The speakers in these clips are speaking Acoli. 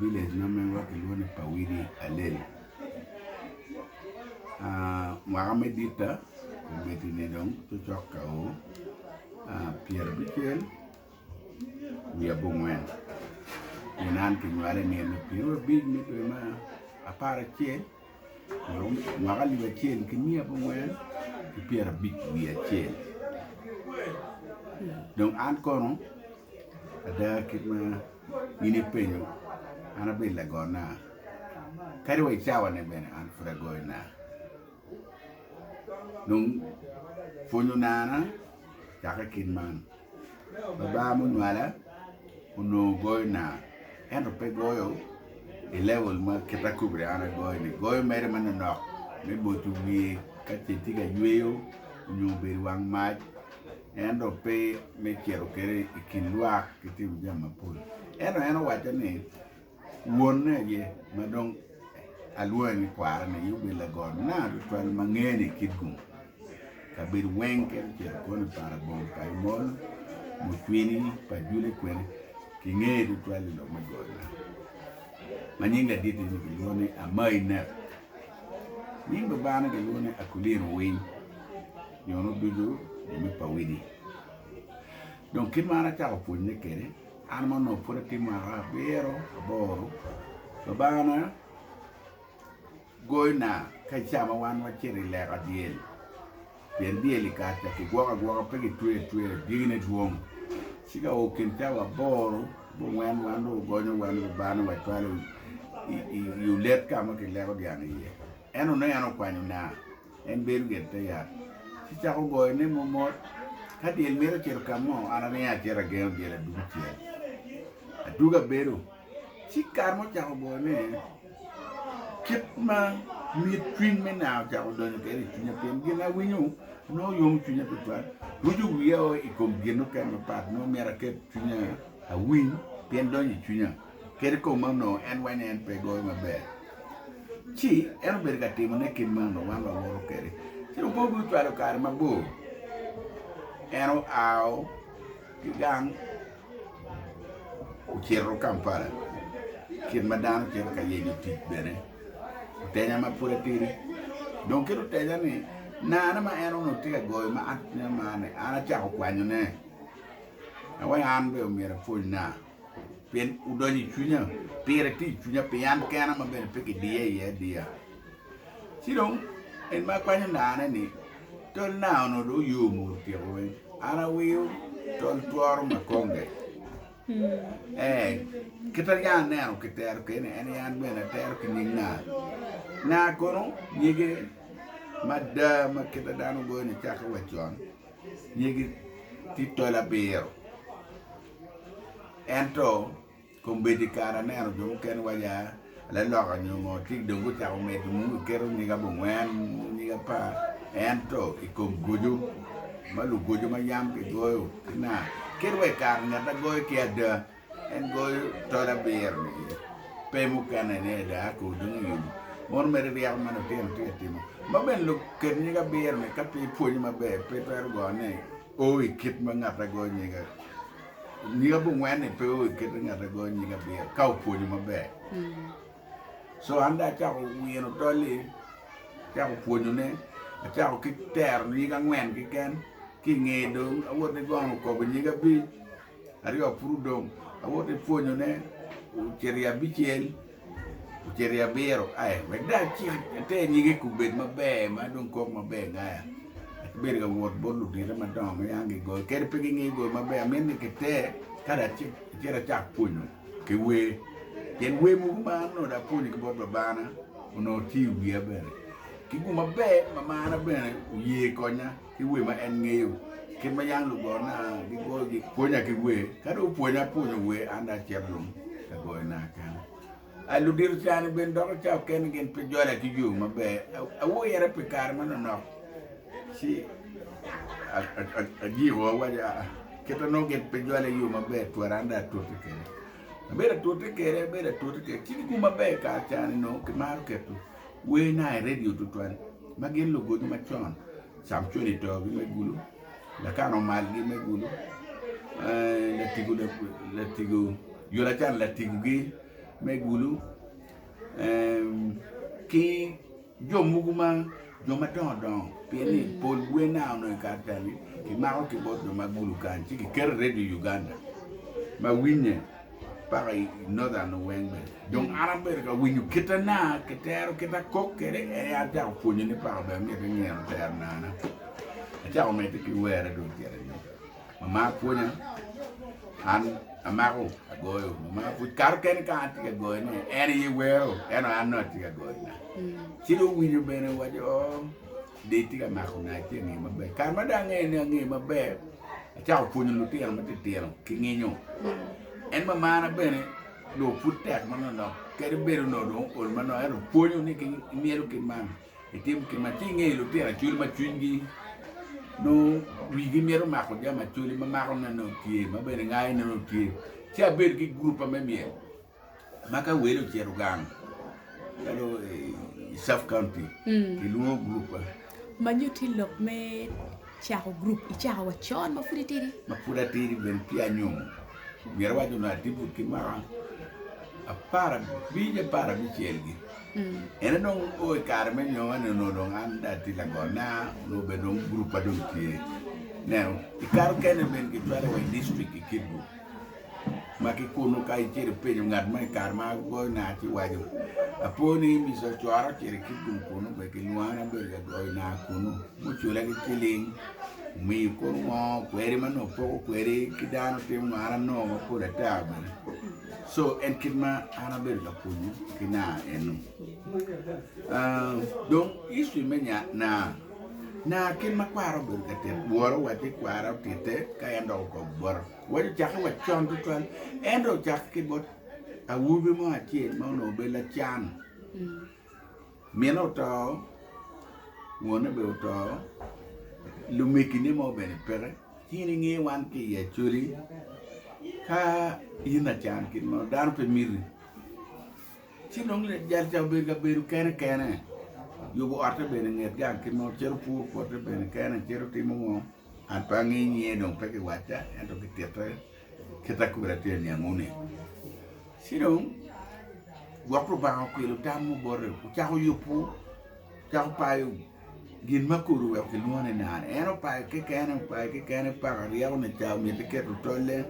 Village ma megwa kilwongo ni pawidi alel mwaka me ditta omiti ni dong cocok ka oo pyera abicel wiye abongwen pien an kinywala i nino pyera abic me dwe me apar acel lwak alip acel ki miya ki wer ki pyera abic wiye acel dong an kono ada kit ma in ipenyo an abedo lago naa kadi wa icawa ne bene an pud agoyo naa dong pwonyo naa na Dok i kit man, babaa ma onywala onongo goyona ento pe goyo i level ma kit akobo ni an agoyo-ni, goyo mere manonok me boco wiye ka ce tye ka yweyo nyo obedo i wang mac ento pe me cito kwede i kin lwak ki timo jami mapol ento en owacce ni Wonne aye, ma dong alwonge ni kwarane aye, obedo lagot nanga tutwal ma ngene i kit gum kabedo weng kit ocito kwono i Parabong pa Imolo, Mucwini, Pajule kwene. Kingeye tutwal i lok me got nanga ma nyinge aditi ni kilwongo ni Amai Nep. Nying babane kilwongo ni Akulino Winy nyo nuducu jo me Pawidi. Dong kit ma an acako pwonye kwede, An ma onongo pud atye mwaka abiro aboro, Lubangana goyona ka ca ma wan wacito i leka dyel, pien dyel i kare ca kigwoko agwoka pe gitweyo atweya, dyegine dwong. Ci ka o kin cawa aboro ki ongwen wan dong wugonyo wan ki Lubangana wacwalo i olet ka ma kileko dyang iye. En oneno en okwanyona. En bedo get te yat, ci cako goyone momot. Ka dyel mito cito ka mo, an aringo acito agengo dyel adug acel. Adug abedo, ci kare ma ocako goyone, kit ma mit cwiny me naa ocako donyo kwede i cwinya pien gin awinyo nongo yomo cwinya tutwal. Ruco wiya o i kom gin mukene mapat nongo myero aket cwinya awiny pien donyo i cwinya. Kadi kong ma onongo en weny en pe goyo maber, ci en obedo ka timone kit ma onongo wan wawoto kwede. Ci dong pud gucwalo kare mabor, en oa ki gang ocito Kampala kit ma dano cito ka yenyo tic bene. Otenya ma pud atidi dong kit otenya ni naane ma en onongo tye ka goyo ma an pud amarone, an acako kwanyone na wai an bene omyero apwony naa. Pien wudonyo i cwinya, pire tye i cwinya pi an kena ma bene pe kidiya iye adiya. Ci dong en ma kwanyo naane ni, 'Tol naa onongo dong oyom o, otyeko weng. An awiyo tol tworo ma konge. Ee, kit ma yam aneno kitero keni en aye an bene atero ki nying naa. Naa kono nyige mada ma kit ma dano ogoyo nicakke wa con, nyige tye tol abiro. Ento, kombeddi kare aneno jo mukene waco, Aa, laloka onyo ngo ci dong gucako medo nongo giketo nyig abongwen, nyig apar. Ento i kom goco ma lugoco ma yam kigoyo ki naa, kit wa i kare ngeta goyo ki ada, en goyo tol abiro-ni aye, pe mukene ni ada ako dong i yubu. Mono mere ryeko ma lutino tye ka timo. Ma bene luket nyig abiro-ni ka pe ipwonyo maber pe itwero gone. O i kit ma ngatte goyo nyinge. Nying abongwen-ni pe o i kit ma ngatte goyo nyinge abiro ka opwonyo maber. Co an dong acako wino tol-li, acako pwonyone, acako ki tero nying angwen keken, ki i ngeye dong awoto igono okobo nying abic, aryo pud odong, awoto ipwonyone ocito i abicel. Ocito i abiro ae wek dong acit ater nyige kubed maber ma dong kok maber nya. Akibedo ka wot bot ludite madongo ma yam gigoyo kadi pe gingeyo goyo maber amito ni kiter kadi acit acit acak pwonyo ki wer. Pien wer mogo ma an onongo dong apwonyo ki bot babana onongo tye i wiya bene. Ki gum maber ma marna bene oye konya. ki wer ma en ngeyo. Kit ma yam lugona gigoyo gipwonya ki wer, ka dong gupwonya pwonyo wer an dong acito dong ka goyona keken. A Ludito cani bene doko ca okene gin pe jola ki yo maber. Awoyo yere pi kare ma nonok ci ajiko awaco aa kit ma nongo gin pe jola iyo maber twara an dong atute kwede. Abedo atute kwede abedo atute kwede ci gikuba maber kare cani nongo kimaro keto Wer na i redio tutwal ma gin lugodo macon Samcon i togi me gulu, Lakan omalgi me gulu, Latigo Yonacan latigogi me gulu ki jo mogo ma jo madongo dongo pien ni pol wer na onongo i kare teni kimako ki bot jo ma gulu kany ci kiketo i redio Uganda ma winye. paka i Northern weng bene. Dong an abedo ka winyo kite na ki tero kite akok kede ene an chako pwonyo ni paka bene myete nyeno tero na na. Achako mete ki were dong cere ni. Mama pwonya an amako agoyo mama pwonya kato kene ka an tye ka goyo ni en ye wero eno an no atye ka goyo na. Ci do winyo bene waco oh. Dee itye ka mako nga ci ange maber. Kare ma dong angeye ni ange maber, acako pwonyo lutino matitino ki nginyo. En mamana bene dong pud tek ma nonok kadi bedo no dong ol ma nok ento pwonyo ni ki myelo ki man itim ki man ci ingeyo lutino acwali ma cwinygi nongo wigi myero mako jami acwali ma mako ne nongo tye ma bene ngayo ne nongo tye ci abedo ki gurupa me myel ma ka wele ocito gang calo i sub county kilwongo gurup ma ma nyo tye lok me cako gurup icako wa con ma pud itidi ma pud atidi bene ci anyomo myero awac dong atibut ki mwaka apar abic apar abicel gi ene dong o i kare me nyomo ni onongo dong an dong atye lagot na onongo bene dong gurup ma dong tye nen i kare okene bene kicwalo wa i dictrict ki kidbu Ma ki kunnu ka icito ipenyo ngat mo i kare ma agoyo naa ci waco, 'Apor ni imica ocora ocito i kit lum kunnu, be gilwonga ni abedo ka goyo naa kunnu? Mucula ki ciling, omiyi kunu ngo kweri ma nongo poko kweri ki dano otim ngo? An anongo mapol ata bene. Co en kit ma an abedo ka pwonyo ki naa eno. Aa, dong history me nya naa, naa kit ma kwara obedo ka tit, wora owacci kwara otitte ka en dok okobo bota. Wek ocake wa con tutwal ento ocake ki bot awobi mo acel ma onongo obedo lacan mine oto wone bene oto lumegine mo bene peke ci in inge wan ki i Acholi ka in lacan kit meno dano pe miti. Ci dong lajal ca obedo ka bedo kene kene, yubo otte bene i nget gang kit ma cito pur pote bene kene, cito timo ngo, an pe angeyo nyinge dong pe ki wacca ento ki titte kita kobedi atye ka niangu ni. Ci dong gwok Lubanga okwilo tam mo bote, ocako yubu, ocako payo. Gin ma kodi oweko kilwongo ni nano, en opayo kekene, opayo kekene paka ryeko ni ca omiti keto tolle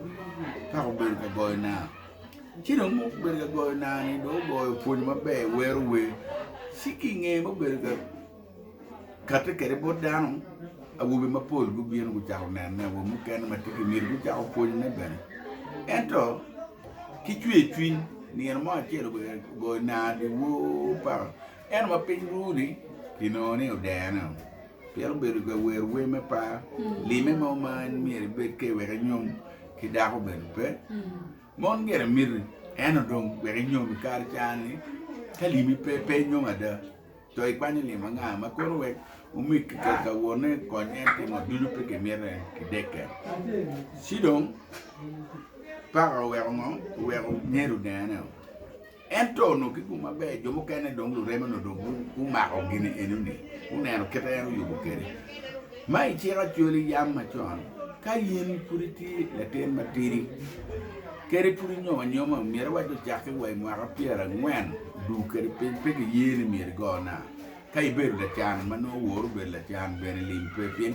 paka obedo ka goyo naa. Ci dong muku bedo ka goyo naa-ni dong ogoyo opwonyo maber wero wer ci ki inge mubedo ka kati kede bot dano awobe mapol gubino gucako nene awobe mukene ma tye ki myero gucak opwonyone bene ento ki cwer cwiny nino mo acel obedo ka goyo naa dyewor paka Ento ma piny ru ni kinongo ni odene o pien obedo ka wer wer me par, lime mo ma en myero ebed ke wek enyom ki dako bene pe. Mon gire miti ento dong wek inyom i kare cani ka limi pe pe inyom ada to ikwanyo lim anga ma kono wek omeg ki ka ka wonne kony en timo ducu pe kimite ki dekke. Ci dong paka oweko ngo, oweko nyer odene o. Ento onongo ki gum maber, jo mukene dong lureme onongo dong gumako gin eno-ni, guneno kit ma en oyubo kwede. Ma iciko acwali yam macon, ka in pud itye latin matidi, kadi pud inyomo anyoma, myero iwac ocakke wa i mwaka pyerangwen duu kwede piny, pe giye ni myero igo naa. Ka ibedo lacan ma nongo oworri bedo lacan, bene lim pe, pien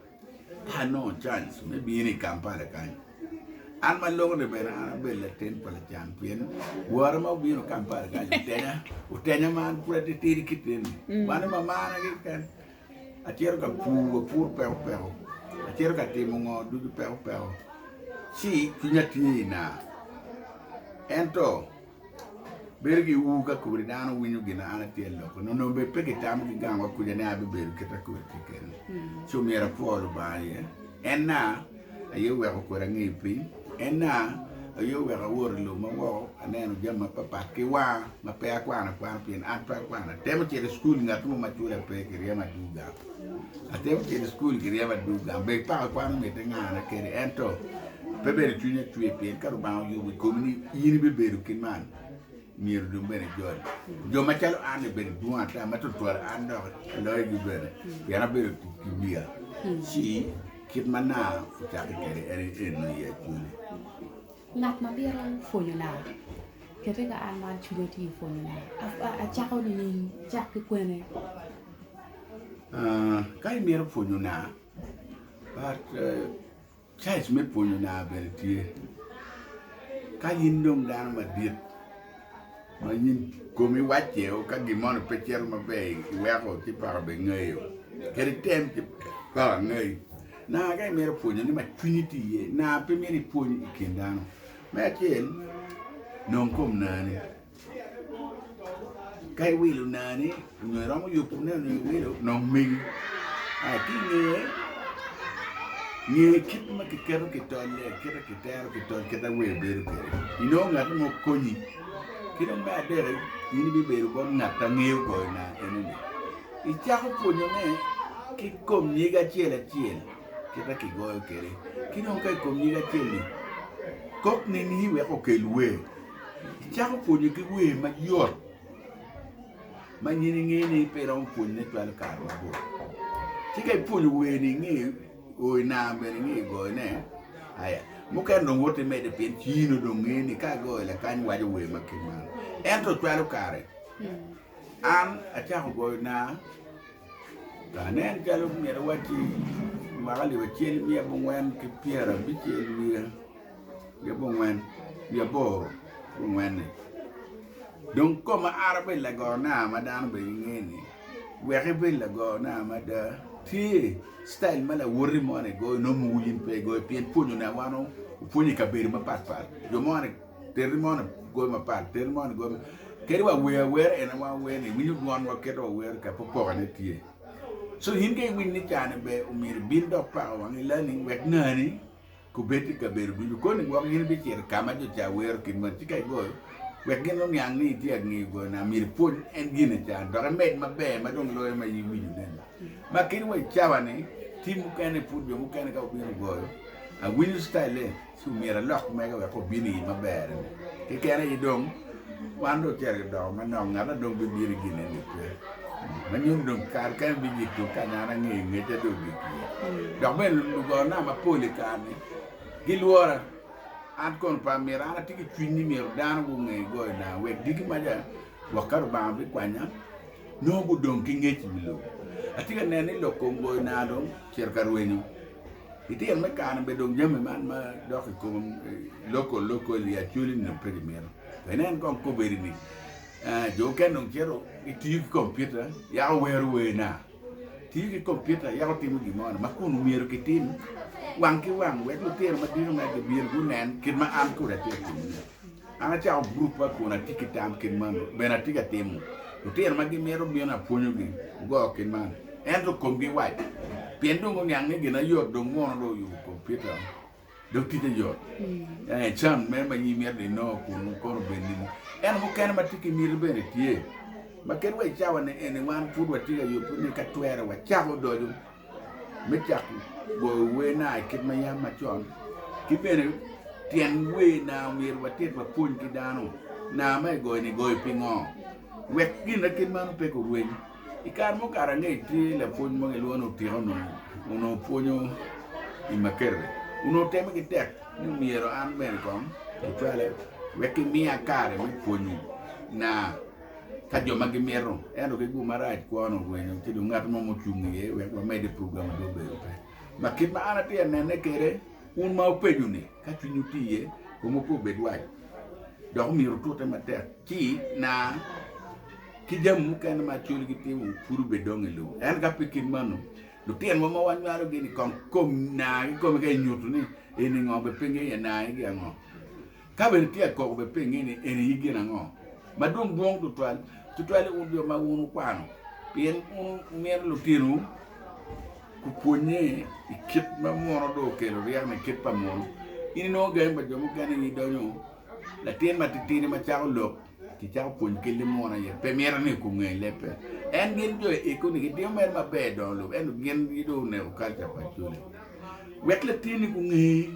Ka anongo cwaic me bino i Kampala kany, an ma lok-ni bene an abedo latin pa lacan pien wora ma obino Kampala kany otenya, otenya ma an pud atitidi kite-ni. Wan dong wamara keken, acito ka pur, apuro peko peko, acito ka timo ngo ducu peko peko ci cwinya tye i naa. Ento Bedo ki ur ka kodi dano winyo gin an atye aloko nongo nongo bed pe kitamo ki gang wa kuca ni abibedo kit akodi keken ci omyero apwo Lubanga iye en na aye oweko kodi angeyo piny en na aye oweko awot ilo ma woko aneno jami ma pat pat ki wanga ma pe akwano akwano pien an pe akwano atemo cito i cukul ngat mo ma cula pe kiryemo adwogo gang Atemo tito i cukul ki ryema adwogi gang bed paka kwan omitte ngana kede ento pe bedo cwiny acwe pien ka Lubanga oyubo i komi ni in ibibedo ki man myero dong bene ijol. Jo macalo an-ni obedo dwong ata ma twatwal an dok aloyogi bene pien abedo ki wiya ci kit ma nanga ocakki kwede en eno i acwali. Ngat ma bito pwonyona, kete ka an ma acwide tye ka pwonyona, acako nining? Cak ki kwene. Ka imito pwonyona, caij me pwonyona bene tye. Ka in dong dano madit ma in komi wacce o ka gin moni pe cito maber iweko ci paka bene ngayo, kadi item ci paka ngayi. Nanga ka imito pwonyo ni ma cwinyi tye iye, nanga pe myero ipwony i kin dano. Me acel, nong kom nani. Ka iwilo nani, onyo iromo yubo ne onyo iwilo, nong megi. Aya ki inge, nge kit ma kiketo ki tolle, kit ma kitero ki tol, kit ma wer bedo kwede. Inongo ngat mo konyi. Ki dong me adek, in ibibedo bot ngat ma ngeyo goyo nanga kene ni. Icako pwonyone ki kom nyig acel acel kita kigoyo kwede, ki dong ka i kom nyig acel-li, kok nini wek okel wer. Icako pwonyo ki wer mayot ma nyin ingeyo ni pe iromo pwonyone cwalo kare mabor. Ci ka ipwonyo wer-ni ingeyo, o i nam bene ingeyo goyone, aya, mukene dong wot imedde pien cii-nu dong ngeyo ni ka agoyo lakany waco wer ma kit man. Ento cwalo kare. An acako goyo naa, ka aneno calo myero awacci mwaka alip acel ki abongwen ki pyerabic-cel wiye ki abongwen wiye aboro ki ongwen-ni dong koma ara bedo lago naa ma dano bene gingeni wek ibed lago naa mada tye citail ma lawoti moni goyo nongo in pe igoyo pien pwonyone wan opwonyo i kabedo mapatpat jo moni teri mo ni goyo mapat teri mo ni goyo mapat kadi wa wer awera en awa wer ni iwinyo dwon wa keto wa wer ka popoka ne tye so in ka iwiny ni cani be omyero ibin dok pako wang ilani wek nani kubed i kabedo ducu koni gwok in ibicito ka ma jo ca wero kit moni ci ka igoyo wek gin oniang ni itye angeyo goyo na myero ipwony en gine can dok imed maber ma dong loyo ma iwinyo neni ma kadi wa i cawa ni tim mukene pud jo mukene ka obino goyo awinyo style Ci omyero alok mege wek obin i maber-ri. Keken aye dong, wan dong ocito ki doko manok, ngat na dong bibino i gin-ni-ni pe. Ma nyuto ni dong kare keken biyik tung kany an angeyo ngecca dong ogik iye. Dok bene lugona mapol i kare-ni gilwora, an kono pe amito. An atye ki cwiny ni myero dano gunge goyona wek diki maca gwok ka Lubanga bikwanya, nongo gudong ki ngec i wi lobo. Atye ka neno ni lok kom goyona dong ocito ka rwenyo. I tyen me kare-ni bene dong jami man ma dok i kom loko loko i acwali ni dong pe gimito. Pe inen kong kobedi ni jo mukene dong cito gitiyo ki kompiuta yako wero werna, tiyo ki kompiuta yako timo gin mo ni ma kun myero gitim wang ki wang wek lutino madito meno gibin gunen kit ma an kodi atye ka timone. An acako guruppa kun atye ki tam kit man bene atye ka timo. Lutino ma gimito bino apwonyogi goyo kit man, ento komgi wac pien dong guniang ni gin ayot dong mono dong oyubo kompita dong ticce yot. Can mene ma imito ni inongo kunu kono obed nini? Ento mukene ma tye ki miti bene tye ma kit wa i cawa-ni eni wan pud watye ka yubbe ni ka twere wacako doco. me cako goyo werna i kit ma yam macon ki bene tyen wer na omyero watit wapwony ki dano na ma igoyo ni goyo pingo wek gin ma kit meno pe gurweny i kare mukato ange tye lapwony mo gilwongo ni otiko onongo pwonyo i makerere onongo teme ki tek ni myero an bene kong acwale wek kimiya kare me pwonyo na ka jo ma gimito ento ki gu marac kwon orwenyo ci dong ngat mo mucung iye wek wamede program dong obedo pe ma kit ma an atye anene kede un ma wupenyo ni ka cwinyu tye iye komu pe obed waco dok omyero wutute matek ci na ki jami mukene ma col gitimo pud obed dong i lum en ka pe kit manu lutinowa ma wanywalo gini kong kom na ki komi ka inyutu ni eni ngo be pingi iye na igi ango Ka bene tye koko bed penge ni en aye gin ango ma dong dwong tutwal, tutwali wun jo ma wun wukwano, pien wun wumito litinowu gupwonnye i kit ma muno dong okelo ryeko ni kit pa muno. In inongo gangi pa jo mukene aye idonyo latin matitidi ma cako lok ci cako pwony kit limuno aye. Pe mito ni oku nge lebbe. En gin jo i eko ni gitimo mere maber i dongo lobo ento gin aye dong oneko kalca pa Acholi. Wek latinni gunge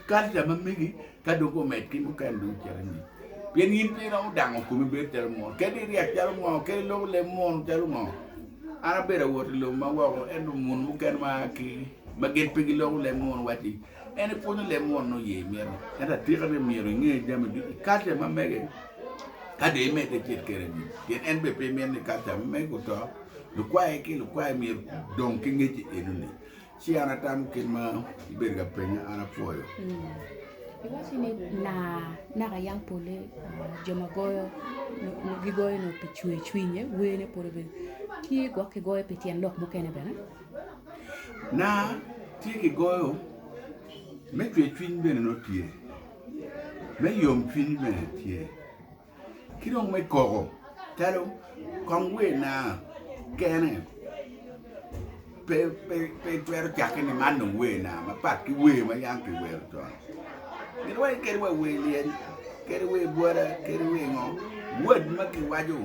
Karca ma megi ka dong omed ki mukene dong cito anyim. Pien in pe iromo dango komi bedo calo mono, kadi iryak calo mono, kadi iloko leb mono calo ngo. An abedo awot i lobo ma woko, ento muni mukene ma aa ki ma gin pe giloko leb mono wacci ni, 'En epwonyo leb mono nongo ye imito. Ento atika ni myero inge jami ducu i karca ma mege ka dong imedde icit kwede anyim. Pien en bene pe mito ni karca ma mege oto. Lukwaye ki lukwaye myero gudong ki ngec enoni. Ci an atamo kit ma ibedo ka penya, an apwoyo. Iwacci ni na naka yang pole jo ma goyo gigoyo nongo pi cwer cwinye, werne pole bene tye gwok kigoyo pi tyen lok mukene bene? Na, tye kigoyo me cwer cwiny bene nongo tye, me yom cwiny bene tye. Ki dong me koko calo kong wer na kene pe pe itwero cakke ni man dong wer na mapat ki wer ma yam ki wero con mito wai kadi wa wer lyel kadi wer bwada kadi wer ngo word ma ki waco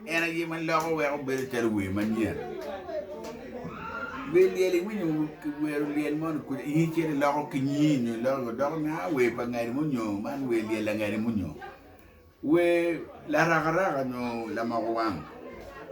En aye ma loko weko bedo calo wer manyen. Wer lyel iwinyo ki wero lyel mo ni kuc ini cit iloko ki nyi nyo iloko doko ni ah wer pa ngani mo nyo man wer lyel la ngani mo nyo wer larakaraka nyo lamoko wang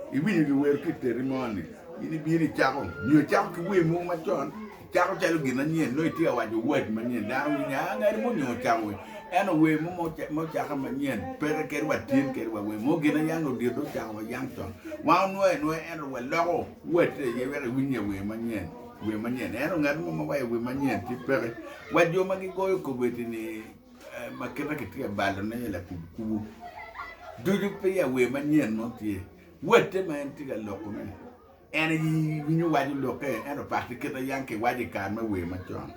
iwinyo ki wero ki iteri mo ni in ibino icako nyo icako ki wer mogo macon Cako calo gin anyen, nongo itye ka waco wac manyen. Dano winyo ni, aa, ngati mo onyo ocako wer. Ento wer mo ma ocakke manyen, peke kadi wa tyen kede wa wer mo. Gin ayang odit dong ocako wa yang con. Wan onwoyo anwoya, ento wa loko wacce iye wek iwiny ya wer manyen, wer manyen. Ento ngat mo ma waco wer manyen ci peke. Wa jo ma gigoyo kobeddi ni, ma kite kitye ka balone iye lakubu kubu, ducu peya wer manyen mo tye. Wacce ma en tye ka loko-ni. En aye winyo waco lokke, ento pakke kit a yam kiwaco i kare me wer macon.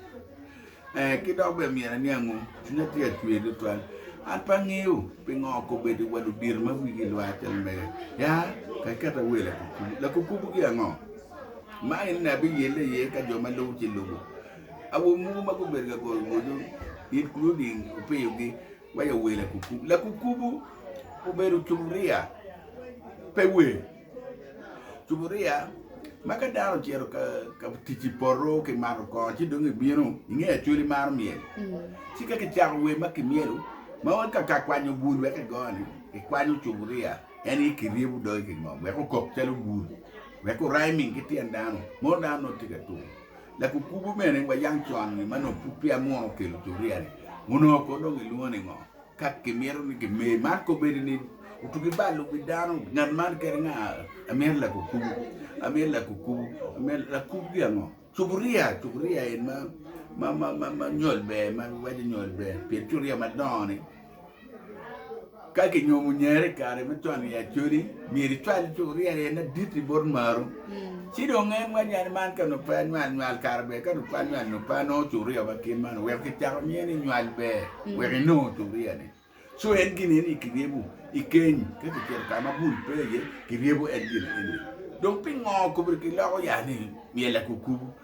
Ee, ki dok bene myero aniangu, cwinya tye ka cwer tutwal. An pe angeyo pingo okobbe di wa ludito ma wigi lwar calo mega. Ya, ka iketo awer lakukubu. Lakukubu ki ango? Ma enini abiyelle iye ka jo ma lubo ci lubo. Awobe mogo ma gubedo ka golo goco it, Cruding, opiyogi, Weyo wer lakukubu. Lakukubu obedo cuburia, pe wer. Cuburia ma ka dano ocito ka tic i poto ki mato kongo ci dong ibino inge acwali maro myel. Mm. Ci ka kicako wer ma kimyelo ma wek ka ka kwanyo bul wek igone ikwanyo cuburia en i kiryebo dogi ki ngom wek okok calo bul wek oryming ki tyen dano. Mono dano nongo tye ka tum. Lakukubu mene wa yang con ni ma nongo pud peya munu kelo curia ni onongo ko dong ilwongo ni ngo ka kimito ni ki mer man ko bedo ni otugi balo wi dano ngat man kene nga amir lakukubu amir lakukubu amir lakukubu ki ango curia curia en ma ma ma ma nyol ber ma waco nyol ber pien curia madongo ni Ka kinyomo nyere i kare me cwalo i Acholi, myero icwal cukuria aye na dit i bot maru. Ci dong en wacci yani man ka nongo pe anywal nywal kara ber ka nongo pe anywal nongo pe anongo cukuria ma kit man wek kicako miye ni nywal ber wek inongo cukuria ni. Co en gin eni kiryebo i keny ka kicito ka ma bul pe iye kiryebo en gin eni. Dong pingo kobri kiloko ya ni myel akukubu?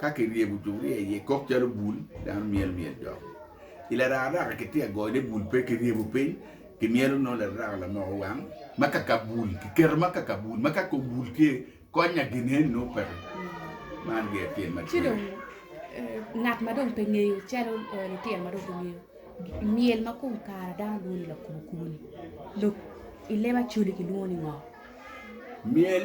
Ka kiryebo cukria iye kok calo bul, dano myel myel dok. I lararaka kitye ka goyone bul pe kiryebo piny, kimyelo nongo lararaka lamoko wang ma kaka bul, kiketo ma kaka bul ma ka kom bul tye kony-nya gin eni nongo peke. Man giya tyen ma tye. ngat ma dong pe ngeyo calo litino ma dong pe ngeyo myel ma kom kare dano lwongo ni lakubo kubo-ni lok i leb Acholi kilwongo ni ngo? Myel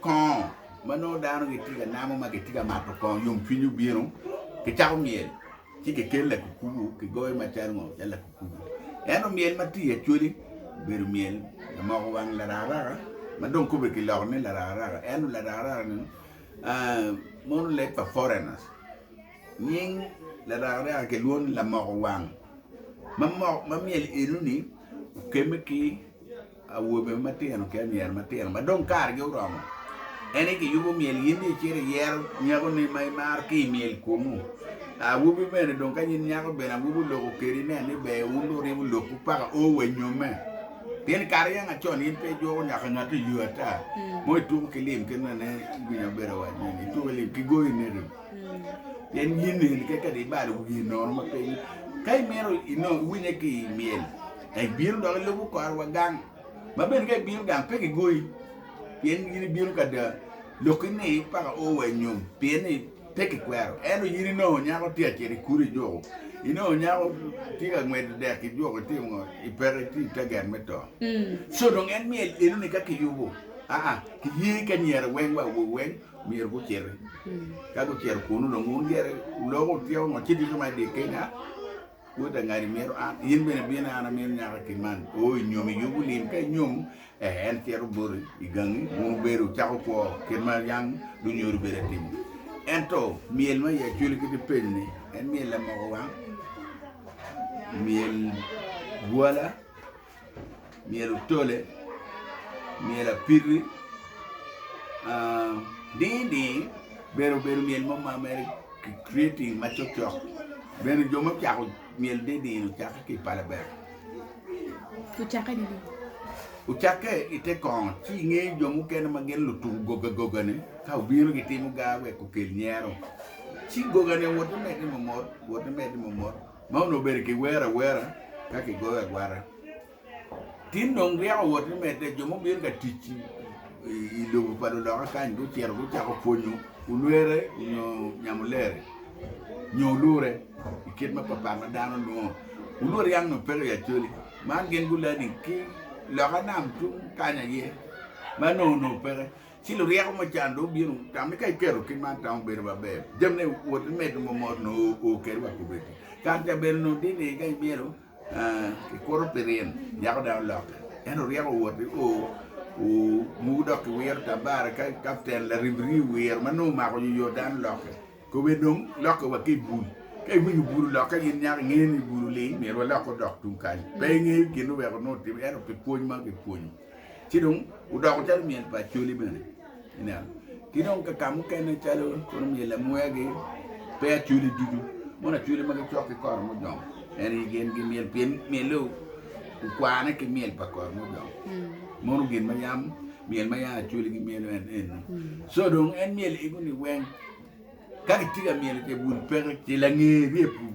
Kongo ma nongo dano gitye ka namo ma gitye ka mato kongo yomcwiny obino kicako myel ci kikel lakukubu kigoyo macalo ngo calo lakukubu ento myel ma tye i acholi obedo myel lamoko wang larakaraka ma dong kobbe kiloko ni larakaraka ento larakaraka ni mono leb pa foreigners nying larakaraka kilwongo ni lamoko wang ma myel enoni okemme ki Awobe matino ki anyira matino ma dong kargi oromo, en aye giyubo myel in ni icito iyero nyakoni ma imaro ki i myel kwomu. Awobi bene dong ka nyin nyako bene awobi oloko kedi nen ni ber wun dong wuryemo lokwu paka oo wa inyomme. Pien kare yam acon in pe ijuko nyaka ngat i yo ata mo ituko ki lim kit ma nen winya obedo waco ni ituko ki lim kigoyo i neti pien in eni kadi ibalo wiye nono ma pe ka imito inong iwinye ki i myel Ka ibino dok ilubo korwa gang, ma bene ka ibino gang, pe kigoyi, pien in ibino ka da, lokki ni, Paka o wa i nyom, pien ni pe kikwero. Ento in inongo nyako tye ka cito i kulu i juko, inongo nyako tye ka ngwedo dek i juko, itye ngo? Ipeke, itye i taget me to. Co dong en myel enoni ka kiyubo, aa, kiye ki anyira weng wa awobe weng myero guciti. Ka gucito kunnu dong wun gire, wuloku wutyeko ngo, cito inyoma i dye Kenya. Woda ngadi mito an, in bene bine an amito nyaka ki man. O i nyom i yub olim, ka inyom, eh, en cito boti i gangi, wun wubedo wucako kwo kit ma yang lunyodo bedo ka timo. Ento myel ma i Acholi kit ipenyo ni, en myel lamoko wang, myel gwala, myero otole, myero apiti ding ding myero obed myel mo ma mere ki creating ma cok cok bene jo ma ocako myel ding ding ocake ki i pala bene, ocake i te kongo ci i nge jo mukene ma gin lutuk goga goga ne ka obino gi timo gar wek okel nyero ci goga ne wot me medde mo mot wot me medde mo mot. Ma onongo bedo ki wero awera ka ki goyo agwata tin dong ryeko owoto ni medde jo mubino ka tic i lobo pa luloka kany gucito gucako pwonyo olwere nyo nyamulere nyo olure i kit mapat pat ma dano lwongo olur yam nyo peke i Acholi man gin gulani ki loka nam tung kany aye ma nongo nongo peke. Ci luryeko mo can dong obino tamme ka iketo kit man tamo bedo maber. Jamine wot imed momot nongo oo keri wa kubedi. Kare ca bene nongo tye ni ka imyero kikuto pi ryen, nyako dang olokke. Ento oryeko wot i oo oo muku dok kiwiro tabara ka kapten laribiri owiro ma nongo omako yoyo dang olokke. Kobedi dong lokke wa ki i bul. Ka iwinyo bul olokke in nyako ingeyo ni bul oling myero walok odok tung kany. Pe ingeyo gin oweko nongo otimme ento pi pwony ma kipwonyo. Ci dong odoko calo myel pa Acholi bene, ineno. Ki dong ka ka mukene calo kono myel Lamwea-gi, pe Acholi ducu. Mono Acholi ma gicok ki Koromujong, en aye gin gi myel pien myelle okwane ki myel pa Koromujong. Mono gin ma yam myel ma yam Acholi gimyelo en eno. Co dong en myel ego-ni weng ka kitye ka myelo ce bul peke, ce lange rye pur.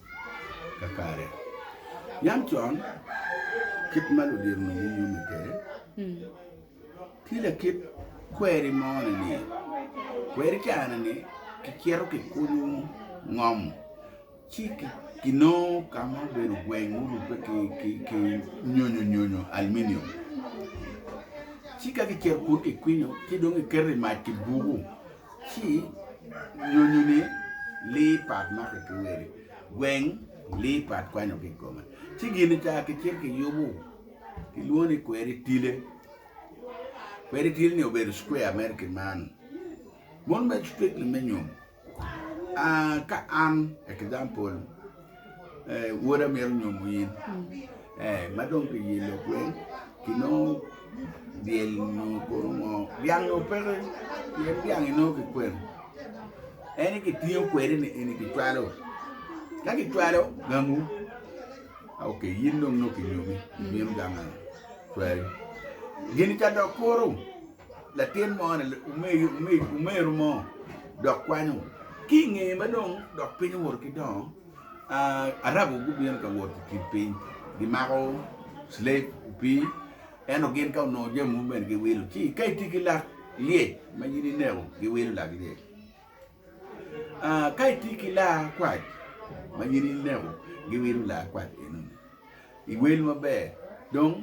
kakare. Yam con, kit ma ludito nongo yome kwede, tye lakit kweri mone ni, kweri careni kicito kikunyo ngom ci kinongo ka ma obedo gweng ma orubbe ki nyonyo nyonyo, aluminium, ci ka kicito kunu kikwinyo ci dong kiketo i mac kibuku ci nyonyo ni lee pat make ki wele gweng lee pat kwanyo ki kome ci gin ni ka kicito ki yubu ki lwongo ni kweri tile kweri tile ni obedo square mere ki man mon me strictly me nyo aa ka an example eh, woda mito nyomo in eh, ma dong ki yelo kwen ki nongo dyel nyo kono ngo dyang nyo peke pien dyang inongo ki kwen eni kitingo kwede ni eni kicwalo ka kicwalo gangu ah, ok yin dong nongo kinyomi mim ganga cwari gini ka dok kuru latin mo ni omeru mo dok kwanyo ki i ngeye ma dong dok piny owoto ki dongo Arabu gubino ka wot i kin piny gimako cileb opii ento gin ka onongo jami mogo bene giwilo ci ka itye ki lak lyec ma in ineko giwilo lak lyec. Ka itye ki laa kwac ma gin ineko giwino laa kwac enoni iwel maber dong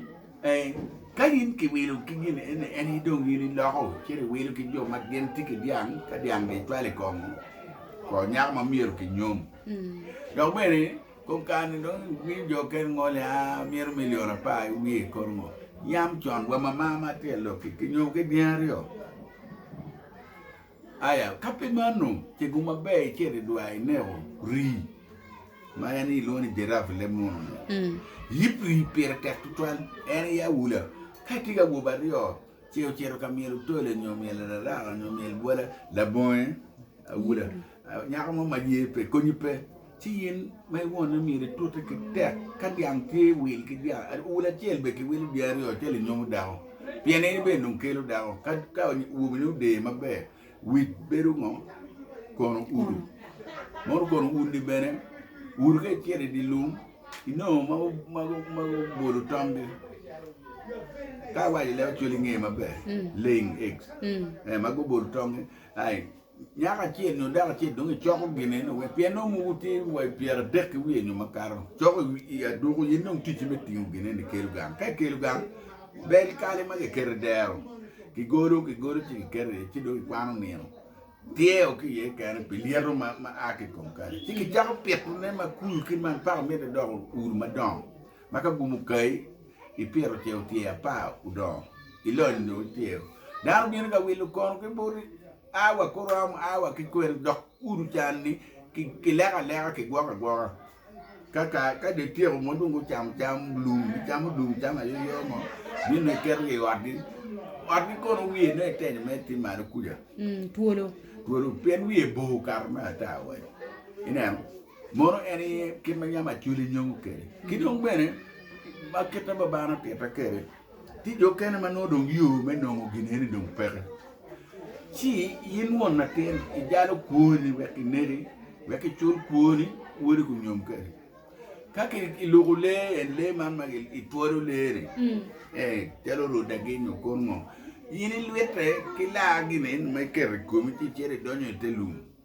ka in kiwilo ki gin eni en dong in iloko ci iwilo ki jo ma gin tye ki dyang ka dyang gicwalo i kome kor nyako ma myero kinyom dok bene kom kare-ni dong imiyo jo mukene ngo ni mito milion apar ki wiye i kor ngo yam con wa mamar ma tye i lok-ki kinyomo ki dyangi aryo. Aya, ka pe mano, cego maber icito i dwar ineko rii, ma en kilwongo ni giraffe i leb munu-nyu. Yib rii pire tek tutwal, en aye awula. Ka itye ki awobe aryo, ce ocito ka myel otole nyo myel araraka nyo myel bwola, labonge awula, nyako mo ma ye pe konyi pe. Ci in ma iwonne myero itute ki tek ka dyang tye i wil ki dyang wil acel bene ki wilo dyangi aryo acel inyomo dako pien in bene dong kelo dako ka wobini odeyo maber wic bedo ngo kono uru mono kono urni bene uru ka icito idye lum inongo ma gubolo tomgi ka awaco leb acwali nge maber laying eggs ma gubolo tongi Nyako acel nyo dako acel dong icoko gine ni wek pien nongo mogo tye wa i pyera adek ki wiye nyo makato coko i aduku in dong ticci me tingo gine ni kelo gang ka ikelo gang bel kali ma kiketo i dero kigolo kigolo ci kiketo iye ci dong ikwano nino tyeo ki iye kene pi lyeto ma a ki i kom kali ci kicako pitone ma kulu ki ma paka mitte doko ur madongo Ma ka gumo kayi i piro ce otyer apar odongo ilony dong ityero. Dano bino ka wilo kono ki boti, a wa kuru am, a wa ki kwena, dok kudu can-ni ki- kileko aleka, kigwoko agwoka. Ka ka ka dong ityeko mon dong gucamo cam lum, gicamo lum cam ayoyo mo, bino dong iketogi i otgi. Otgi kono wiye nongo itenyo mere tye malo kuca, Mm, twolo. twolo pien wiye bor kato me ata wai. Ineno? Mono en aye kit ma yam Acholi nyongo kwede. Ki dong bene, ma kit ma Babana otitta kwede, tye jo okene ma nongo dong yo me nongo gin eni dong peke. Ci in won latin, ijalo kwoni wek ineki, wek icul kwoni, wodi gunyom kwede. Ka ki iluko lee en, lee man ma i- itwalo lee-ni, eh, calo rodagi nyo kor ngo, in ilwitte ki laa gin eni ma iketo i komi ci icito idonyo i te lum.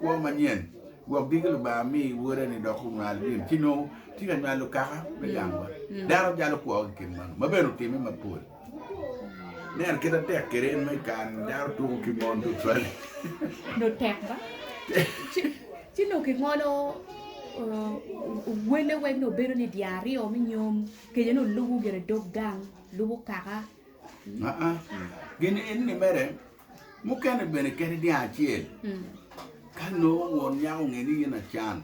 Kwo manyen, Gwok diki Lubanga mi Wode-ni dok onywal gin ci nongo tye ka nywalo okaka me gangwa. Dano jalo kwo ki kin mano, ma bene otimme mapol. Neno kit atek kede en ma i kare-ni dano tuko ki mon tutwal. Nongo tek ba? Ci nongo kingolo wele wek nongo bedo ni dyang aryo me nyom kejone olubo gire dog gang, lubo okaka. Aa, gin enini mere. mukene bene kene dyang acel ka nongo won nyako onge ni in acan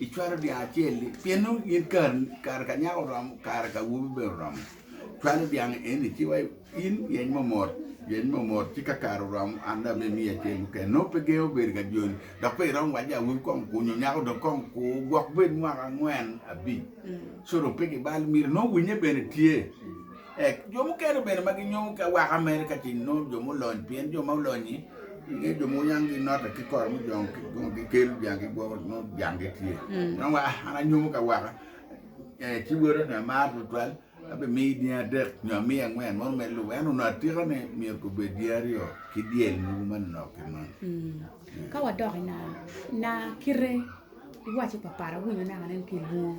icwalo dyang acel ni pien nongo in kare kare ka nyako oromo kare ka awobi bene oromo cwalo dyang eni ci wa in yeny mo mot yeny mo mot ci ka kare oromo an dong abino imiyo acel mukene nongo pe gengo bedo ka joni dok pe iromo waco ni awobi kong okur nyo nyako dong kong okur gwok bed mwaka angwen abic co dong pe gibal myero nongo winye bene tye Ec, jo mukene bene ma ginyomo ki awaka Amerika ci nongo jo mulony, pien jo ma olony-nyi nge jo mogo yang ginote ki kor mujong ki kong gikelo jang gigwoko nongo jang gitye. Nongo wa an anyomo ki awaka, eh, ci woda ni amaro tutwal, abimiyi dyangi adek nyo amiyi angwen mono me lubo. Ento onongo atika ni myero gubed dyangi aryo ki dyel mogo ma nonok ki man. Ka wadok i naa, naa kite iwaco papat awinyo naka nen kilwongo.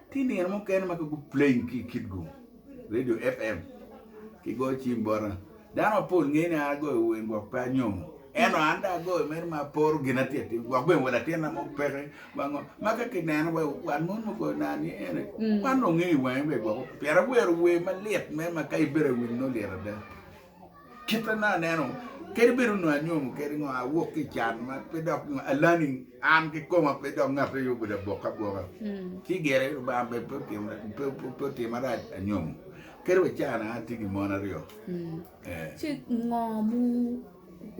Tye nino mukene ma ka guplaying ki kitgu, radio FM, ki goyo cim bota, dano mapol ngeyo ni an agoyo wer gwok pe anyomo. Ento an dong agoyo mere ma aporo gin atye atimo, gwok bene wa latinna mo peke wa ngo. Ma ka kineno wa wat mon mukoyo na ni ene, wan dong ongeyo i wange bene gwoko pien awero wer malit mere ma ka ibedo awinyo nongo lit ada. Kite ma aneno kadi bedo nongo anyomo kadi ngo awok ki can ma pe dok alani an ki koma pe dok ngat aye obedo aboka aboka hmm. ci gire rubanga be pe otima pe otima rac anyomo kadi wa cana atye ki mon aryo hmm. eh. ci ngo mu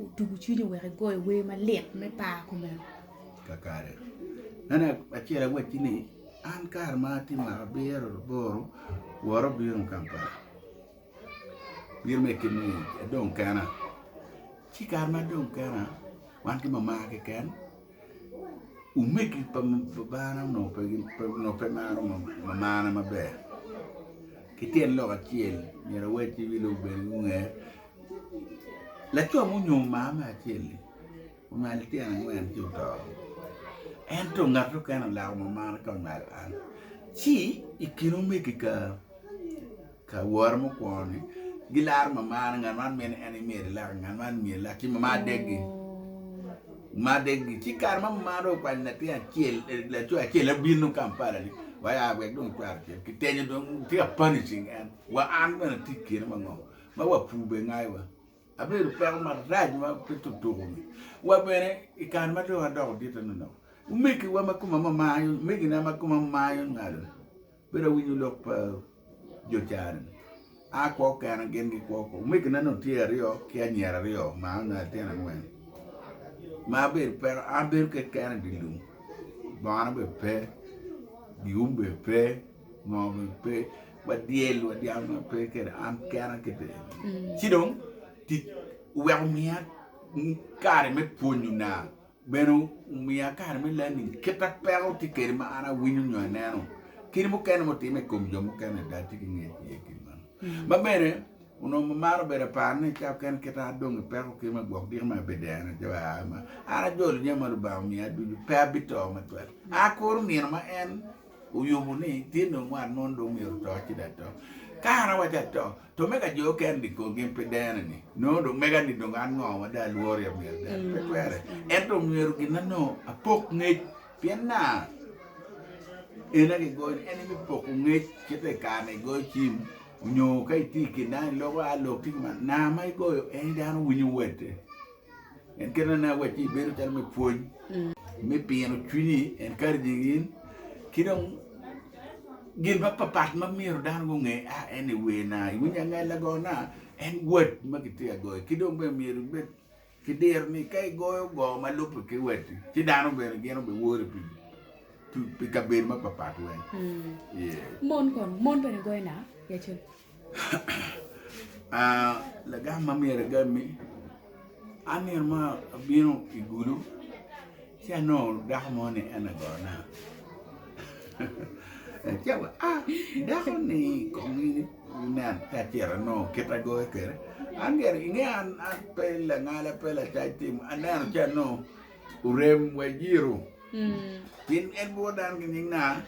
otugu cwinyi wek igoyo wer malit me par kumeno kakare nene acel awacci ni an kare ma atye mwaka abiro laboro woro bino kampala Myero me kit ni adong kena ci i kare ma adong kena wan ki mama keken omegi pa babana onongo pe maro mamana maber ki tyen lok acel myero awed ki wi lok bene gunge laco ma onyomo mama me acel-li onywalo litino angwen ci oto ento ngat mukene olako mamana ka onywalo an ci i kin omegi ka Ka wora mukwongo ni, gilaro mamana, ngat man mene en imyero ilaki, ngat man imyero ilaki, ci mamana deggi, mamana deggi. Ci kare ma mamana dong okwanyo latin acel, laco acel en bino Kampala ni waya wek dong cware ocen, kitenyo dong tye ka punishing en, wa an bene atye i kine mango ma wa pur bene ngaiwa, abedo peko marac ma pe tutuku-ni. Wa bene i kare ma dong adoko dit-ti nonok, omegiwa ma kome mamana, omegina ma kome mamana onywalo-ni, Bedo awinyo lok pa jo can, a kwo kena gin gi kwo kwo. Omegina ni otye aryo ki anyira aryo ma onongo litino angwen ma bedo peko an abedo keken idye lum bongo na bene pe giyum bene pe ngo bene pe wadyel wadyang bene pe kede an kena kede ci dong tic oweko miya kare me pwonyo na. Bene omiya kare me leb ni kit ma peko tye kwede ma an awinyo nyo aneno kit mukene ma otime i kom jo mukene ada tye ki nge iye kit meno. Ma bene onongo mamaro obedo aparo ni ca oken kit ma adong ki peko kit ma gwok diki ma abideno ci wek aa ma an ajolo jami ma Lubanga omiya ducu pe abito matwal. An akuro nino ma en oyubo ni tye dong wat mo dong myero oto ci dong ato. Ka an awaco ato, To mega jo oken ni kong gin pe dene ni nongo dong mega ni dong an ngo ma dong alwori amyero dene pe twere ento omyero gina nongo apok ngec pien na ena gigoyo ni eni me poko ngec kite i kare na igoyo cim onyo ka iti kin dano iloko a lok tye ki ma na ma igoyo eni dano winyo wate. En kelo ne wacci ibedo calo me pwony me pino cwinyi encouraging in ki dong gin ma papat ma myero dano gunge a en ni wer na iwinyo angal lagona en wat ma kitye ka goyo ki dong bene myero ibed ki diro ni ka igoyo goo ma lubbe ki watti ci dano bene gin obi wori pi pi kabedo ma papat weng yeah. Mon kono, mon bene goyo na? Lagam ma myero agam-mi, an nino mo abino i gudo ci anongo dako mo ni en aye gona ci awaco aa dakoni kong in inen ci acito anongo kit ma agoyo kwede an myero inge an pe langala pe lacac tim aneno ci anongo orem wa ejiro pien en bwot dano ki nying naa.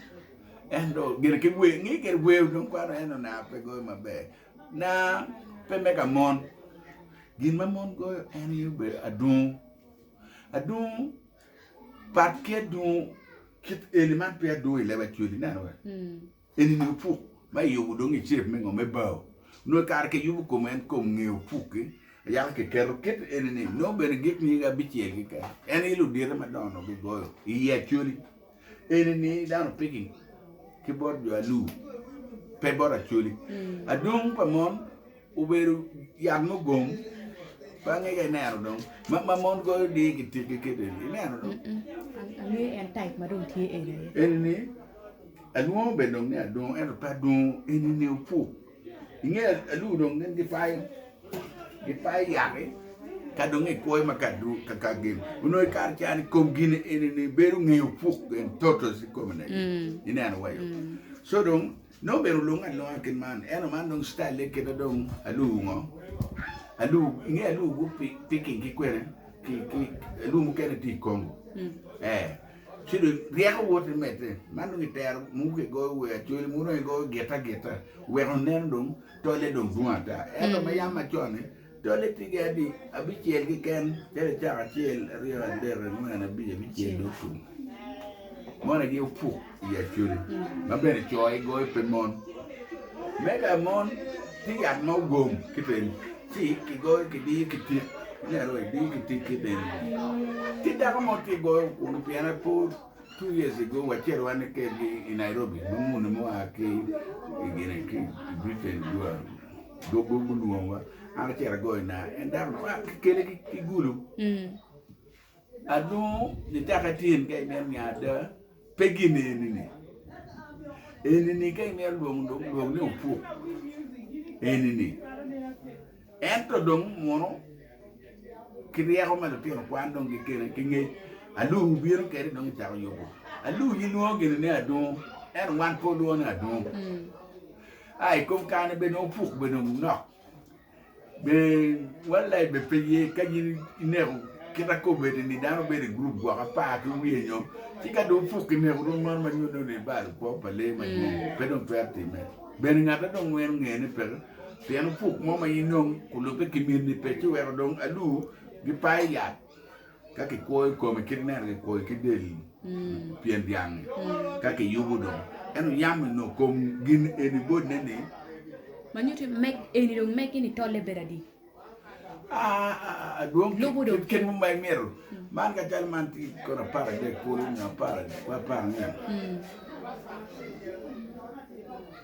Ento gire ki wer, nge gire wer dong kwano eno na pe goyo maber. Na pe me ka mon. Gin ma mon goyo en aye obedo adungu. Adungu pat ki adungu kit eni man pe adungu i leb acweli ineno wa. Eni ni opuk ma iyubo dong i shape me ngo me bao. Nongo kare ki yubo kom en kom nge opuk-ki yaka ki keto kit eni ni nongo bene gik nyige abicel keken en aye ludite madongo nongo gigoyo i iye acweli. eni ni dano piging ki bot jo alu pe bot acoli adwong pa mon obedo yat mugom bange ka ineno dong ma mon goyo dii ki tik ki kit eni ineno dong angeyo en type ma dong tye eni aye eni ni alwongo bene dong ni adwongo ento pe adwongo eni ni opuk I nge alur dong gin gipayo gipayo yaki ka dong i kwoyo ma kadu kaka gin onongo i kare ca ni kom gin eni ni bedo ngeyo puk gen totos i kom ne i neno wayo so dong no bene olung alunga kin man eno man dong style le kida dong alur ngo alur i nge alur gu picking ki kwene ki ki alur mukene ti i Congo eh Ci dong ryeko woto i medde. Man dong itero mogo ki goyo wer, cwele mogo dong igoyo git agita, wek oneno dong tolle dong dwong ata. Ento me yam macon-ni, tolle tye ki adi abicel keken, calo icaka acel, aryo, adek, angwen, abic, abicel dong ocung. Monegi opuk i acwele, ma bene co igoyo pe mon. Me ka mon. Tye yat ma ogom ki piny, ci kigoyo kidiyo ki tik, ongera wa idiyo ki tik ki bene. Tye dako mo tye goyo kunu pien apo two years ago wacito wan kedgi i Nairobi ma muni mua ki i gine ki i Britain gua doggo gulwongo wa an acito agoyo na en dako ni kikele ki gulu. Adwongo ni taka tye in ka imyero niang ada pe gin eni-ni. Eni-ni ka imyero lwong dong lwong ni opuk eni-ni. Ento dong muno ki ryeko ma lutino kwan dong gikene ki ngec alur wubino kede dong icako yubo. Alur gilwongo gini ni adwongo ento wan pe olwongo ni adwongo. Ai kom kane bene opuk bene dong nok. Be World Life be pe ye ka in ineko? Kit akobbe-ni ni dano bedo i gurup gwoko apar ki wiye nyo ci ka dong opuk ki neko dong meno ma nyuto ni balo kwo pa lee madwong pe dong twero timme. Bene ngatte dong weng onge ni peke pien opuk mo ma inong olubbe ki mitni pe ci weko dong alur gipayo yat. Ka kikwoyo kome kit ineno kikwoyo ki del pien dyang-ngi, ka kiyubo dong, ento yam ni nongo kom gin eni bodine-ni. Ma nyuto ni meg eni dong meggi ni tolle bedo adi? Adwong Lubo dong kit mo ma imito. Man ka calo man tye kono apar adek kulu nyo apar apar ange.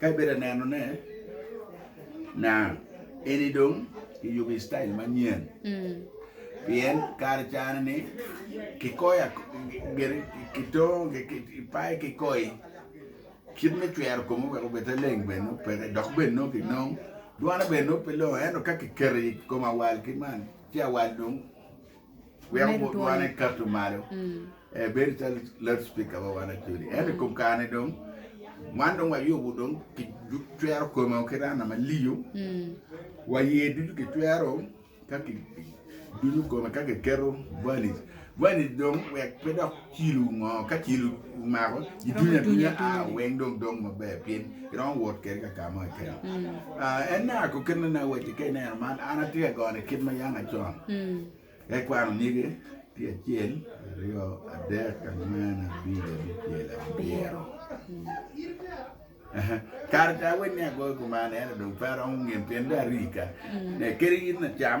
Ka ibedo ka nenone, na, eni dong kiyubo i citail manyen. Pien kare cani ni kikoyo ak- gire kitongo ki- ki- kipayo ki koi kit me cwero kome wek obed te leng bene nongo peke dok bene nongo kinong dwane bene nongo pe longoo ento ka kiketo i kom awal ki man ci awal dong Weko wot wan ekatu malo, ebedo calo loud speaker wa wan acodi. Ento i kom kare ni dong wan dong wayubo dong ki cwero kome o ki rana maliyo, wa iye ducu ki cwero ka ki dunyo kome ka ki keto valij, valij dong wek pe dok Cilo ngo ka cilo omako idunyo adunya a weng dong dong maber pien iromo wot kede ka kamo keken en ne ako kit mene awaci ka ineno man an atye ka gone kit ma yanga con ekwano nyige tye acel aryo adek angwen abir abicel abiro kare aye weni agoyo kuman ento dong pe aromo nge pien dong arika kadi in lacam.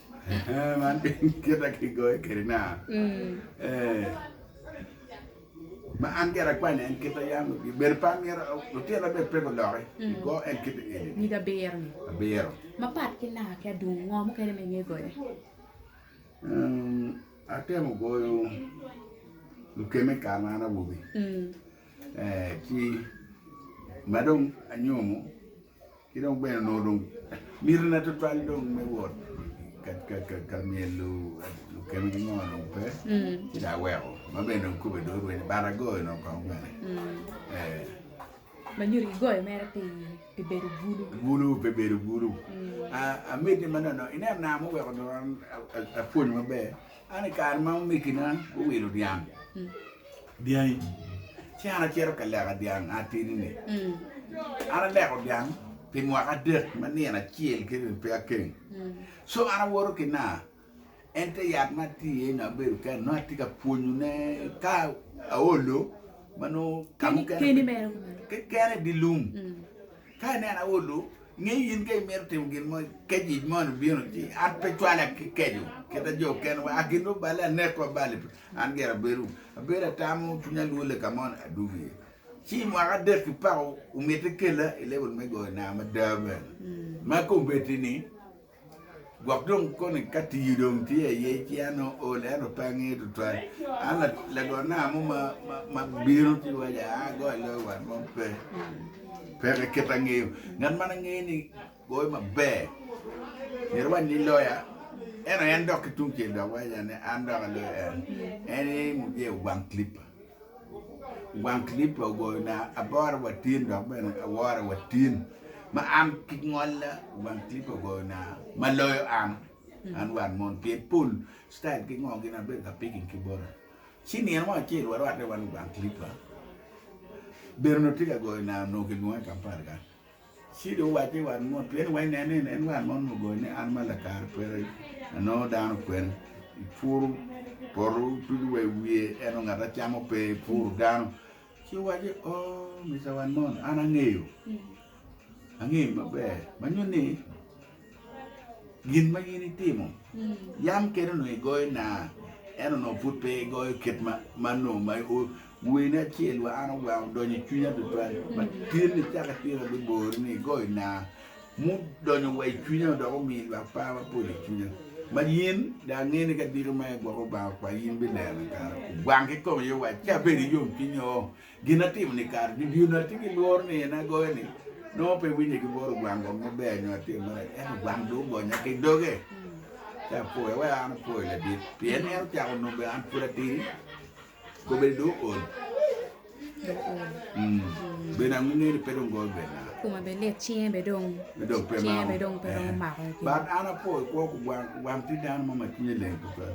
Man kita kigoyo kwede na ma an gire akwanya en kita yam bedo pe amyero lutino bene pe guloki go en kita eni nyig abiro ni abiro mapat ki naka ki adungu ngo mukene ma inge goyo atemo goyo lukeme kare ma an awobi ci madong anyomo ki dong bene onongo dong miti na tutwal dong me wot ka myelo lukeme ki ngo dong pe ci dong aweko ma bene dong kube dong orwenyo ni bata agoyo nongo kong bene ee. Ma nyo dong igoyo mere pi pi bedo bulu. Bulu pe bedo bulu. Amiti ma nono ineno na ma oweko dong an apwonyo maber An i kare ma omegina guwilo dyang, dyangi, ci an acito ka leka dyang atidi-ni. An aleko dyang pi mwaka adek ma nino acel ki ri pe akeng. Co an awoto ki naa, en te yat ma atye iye nongo abedo kene, nongo atye ka pwonyone ka aolo ma nongo ka mukene keken idi lum. Ka ineno aolu, nge ni in ka imito timo gin mo, ka yic moni bino ci an pe cwala ki keco kita jo okene wa, a gin lubale anekwa bale pe, an gire abedo abedo atamo cwinya lwole ka mo ni adwogo iye. Ci mwaka adek ki pako omite kela i level me goyo naa mada bene ma kombeddi ni Gwok dong koni ka tii dong tye aye ci an ool ento pe angeyo tutwal an lago nanga mo ma bino ci waco aa ago aloyo wat mo pe peke kit angeyo ngat ma angeyo ni goyo maber myero iwac ni loya ento en dok ki tungcel dok waco ni an dok aloyo en en aye mujee Ogwang clipper. Wang clip pa ogoyo na aboro wa tin dok bene aworo wa tin ma am ki ngolla wang clip pa ogoyo na ma loyo am an wan mon pien pol style ki ngo gin abedo ka picking ki bota ci nino mo acel wa rwate wan i wang clip pa bedo nongo tye ka goyo na nongo ki lwonge kampala ka Ci dong owac ni, 'Wat mot, pien weny nen ni en wat mo onongo ogoyo ni an ma lakare peke anongo dano kwen. Ipuro poto ducu wa i wiye, ento ngat acamo pe, ipuro dano. Ci owaco ni, 'O, Mister Wan Mon, an angeyo, angeyi maber ma nyuto ni Gin ma in itimo, yam kene onongo igoyo naa, ento onongo pud pe igoyo kit ma onongo ma weni acel wa an ogwango odonyo i cwinya tutwal ma tyen ni caka tye ma bibori ni igoyo naa mudonyo wa i cwinya dok omiyo lwak par mapol i cwinya. Ma in dong angeyo ni ka diki ma igwoko Lubanga kwai in bineno kare ogwang ki kome iye wa ci abedo ki yomcwiny oo. Gin atimo ni kare ni dyewni atye ki lworo ni en agoyo ni nongo pe winye ki bworo gwang gwang maber nyo atimo marac ento gwang dong ogonya ki doge ci apoyo wek an apoyo ladit pien ni en ocako nongo bene an pud atidi kobedi dong ool bene ange ni pe dong gol bene na Kume be lit, cinge be dong me dong pe cinge mako be dong pe romo mako. but an apoyo kwo kugwang kugwang tye dano mo ma cwinye leng tutwal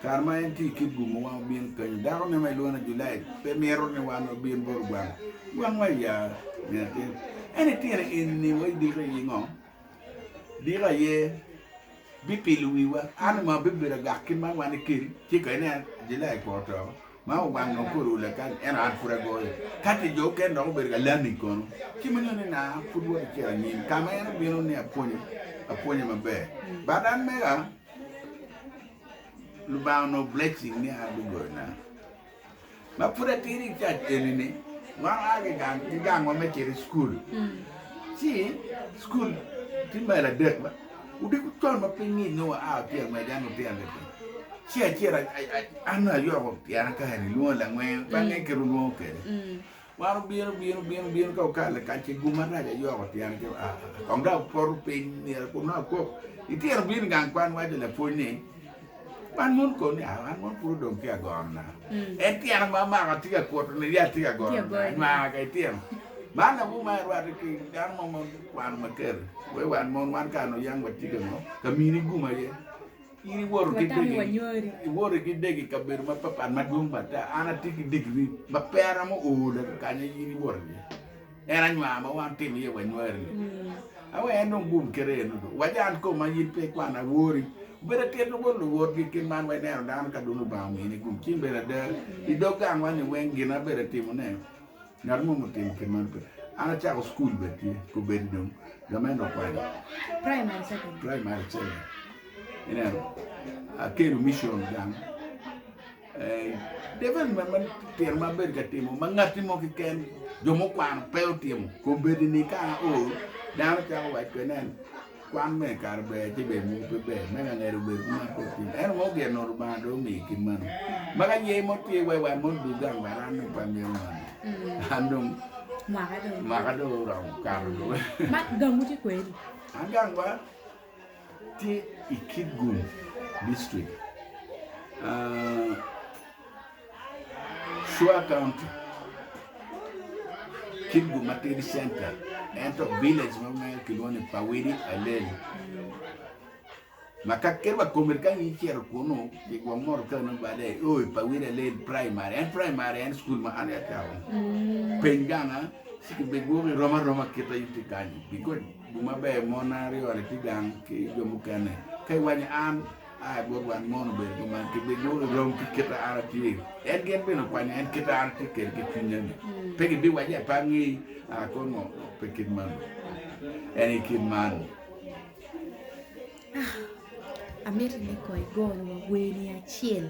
Kare ma en tye i kit gumo wan wabin peny dako ne ma ilwongo ni Julaid pe mito ni wan wabin bot gwang gwang wa ya nge atin en itine en ni wa idiko aye ngo diko aye bipilo wi wa an ongo abibedo agak kit man wan ikeri ci ka ineno Julaid po oto ma wa gwang dong kore olo kany ento an pud agoyo kati jo oken dok obedo ka lami kono ci ma nyuto ni na pud wa kicito anyim ka ma en obino ni apwonye apwonye maber but an mega Lubanga onongo blessing ni an lugolona ma pud atidi i cac eni ni wan wa ki gang ki gang wa me cito i cukul ci cukul tye mail adek ma odiko con ma piny ngic nongo wa a wa pyeny wacci dano lutino adek kene ci acel an ayoko pyena kare ni lwongo langwe bange kit olwongo kede Wan obino bino bino bino ka okalo i kac ki gum arac ayoko tyen ki aa kong dok apoto piny myero kun nongo akok litino bino i gang kwan waco lapwony ni wan mon kong ni aa wan mon pud odong tye ka gonona en tyena ma amako atye ka kuto ni yat tye ka gonona anywanga ka itino man lawu ma irwate ki dano mo ma okwano makeri wai wan mon wan kare nuyang watye ka ngo ka mini gum aye In iwoto ki degi, iwoto ki degi i kabedo mapatpat madwong bata. An atye ki digiri ma pe aromo oda ki kanya in iwoto iye. En anywar ma wan watimo iye wanywari-ni. A wek en dong gum kite eno dong. Wac an koma in pe ikwana awori. Obedo atir dong bot luwotgi i kit man wa ineno dano ka dong Lubanga omini gum. Ci in bene ada, i dog gangwa-ni weng gin na bedo atimone. Ngat mo ma otimo kit man pe. An acako cukul bene tye kobedi dong lamed wa kwano. Praimari second. Praimari second. Ineno. Akelo micion gang. Eh, development man tyen ma abedo ka timo ma ngatti mo kiken jo mukwano pe otimo. Kobedi ni ka o dano cako waco kwede nen Kwan me kare ber ci ber mogo pe ber me langedo obedo ki mar kor cwiny. Ento mogo gin Rubanga dong omiyi kit mano. Ma ka ye mo tye iwaci wan mono dug gang ba ran dong pe amyero mari. Mm. An dong Mwaka dong. mwaka dong oromo kato dong. Ma gangwu tye kweri? An gangwa tye i Kitgum district. Ah, Sure County kibuc matidi center ento village mo mere kilwongo ni Pawidi Alel ma ka kit wa komedi ka in icito kunu i gwok moro kene nongo bade i o i Pawidi Alel primary en primary en school ma an acawa woko peny ganga ci kibigwoko i rom aroma kit ma in tye kany because gin maber mon aryo-ni tye gang ki jo mukene ka iwaco ni an A I bot wan mono bene jo man gibinyodo rom ki kit ma an atye, en gin bene okwanyo en kit ma an atye kwede ki cwinya-ni. Pe gibiwaco ata ni, A I kor ngo? Pe kit man, en aye kit man. Amito ni kong igo wa wer ni acel.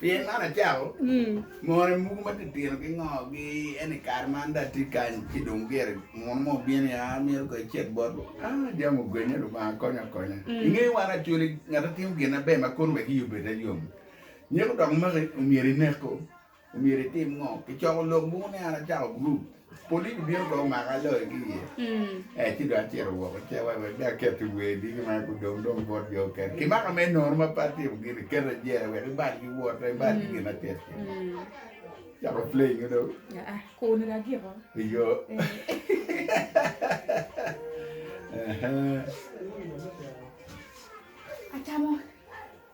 Pien man acako more muku ma titino ki ngo gi en i kare man dong atye kany ci dong gire muno mo obino ya amito kong ecit bot wa aa jami ogwenya lubanga konya akonya inge wan acoli ngat atimo gin na ber ma kono wek iyi obed ayom nyeko dok make omyero ineko omyero itim ngo kicoko lok mogo ni an acako group Polis bino pe omaka aloyo ki iye. Eh, ci dong acito woko i cawa wek dong aket i wer diki ma gudong dong bot jo okene. Kimaka me nono ma pe atimo gin ni, keta i jela wek ibal ki wota, ibal ki gin acel cel. Cako play nyo dong. Aa, kuni ra giko. Iyo. Ehe. Atamo.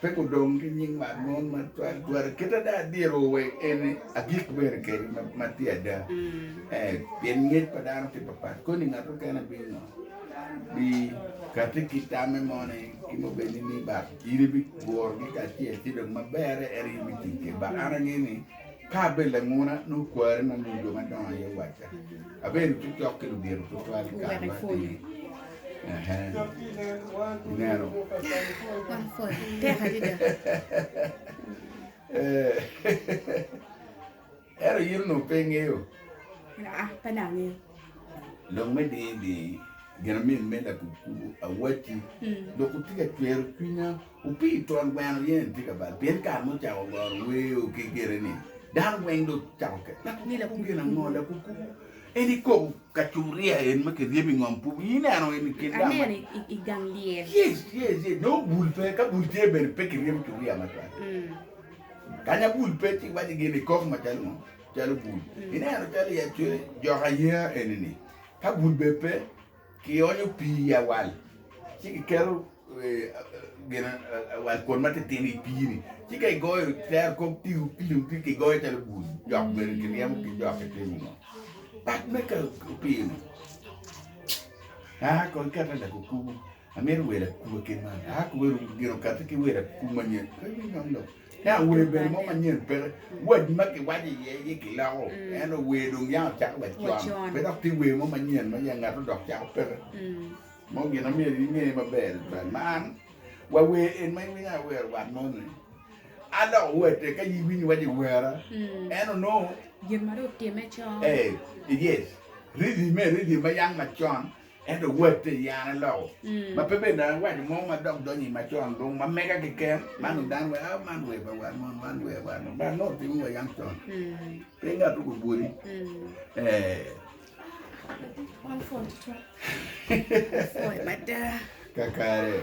Pe gudong ki nying man mon ma twal twala kit ada dyerro wa en agik bene kede ma tye ada ee pien ngec pa dano tye papat koni ngat mukene bingo bi kati ki tamme mo ni ki ma obed ni ni bak in ibigurogi kacel ci dong ma berre en aye ibitic kwede bak an angeyo ni Ka abedo languna, nongo kwarre ma nongo jo madongo aye owacca abedo cokcok ki ludito tutwal i kare matidi. Ineno? Ento in onongo pe ingeyo? Aa, pe dong angeyo. Lok me dingi dingi ginamin me lakukubo awacci hmm. dok otye ka cwero cwinya Opii twon gweno yen tye ka bal pien kare ma ocako goro weo ki gire ni dano weng dong ocako ket ngat ngila ku gin ango lakuku en ikoko kacuria en ma kiryebo ingom pubu ineno en ikin gang aneno i gang lyel yes yes yes nongo bul pe ka bul tye bene pe kiryebo curia macwal kanya bul pe ci waci gin ikok macalo ngo calo bul ineno calo i acwe jok aya eni ni ka bul be pe Kionyo pii i awal, ci kiketo gin awal kwon matitino i pii-ni, ci ka igoyo tero kop pi opim pi kigoyo calo bul jok bene kiryemo ki jok kitimo ngo pat me ka opim-mi a kong ikete i lakukubu amito wel akuwa kit man a kobedongo gin okati ki wel akuku manyen pe me nongo lok. Yah wer bene mo manyen peke, wadi ma kiwaco iye aye kiloko, ento wer dong yah ocako wa con, pe dok tye wer mo manyen ma yah ngat odok cako peke mo. Gin ma myero inge maber adada man, wa wer en ma iwinyo aye wero wat moni, a dok owate ka in iwinyo iwaco iwera ento nongo gin ma dong otime con, yes rythm-me rythm ma yang macon Ento watti yane loko ma pe bed dano waco mo ma dok donyo i macon dong ma mega keken man dong dano weko a man wer pa wat moni man wer wat moni but nongo timo wa yam con pe ngat tung obwoti ee kakare.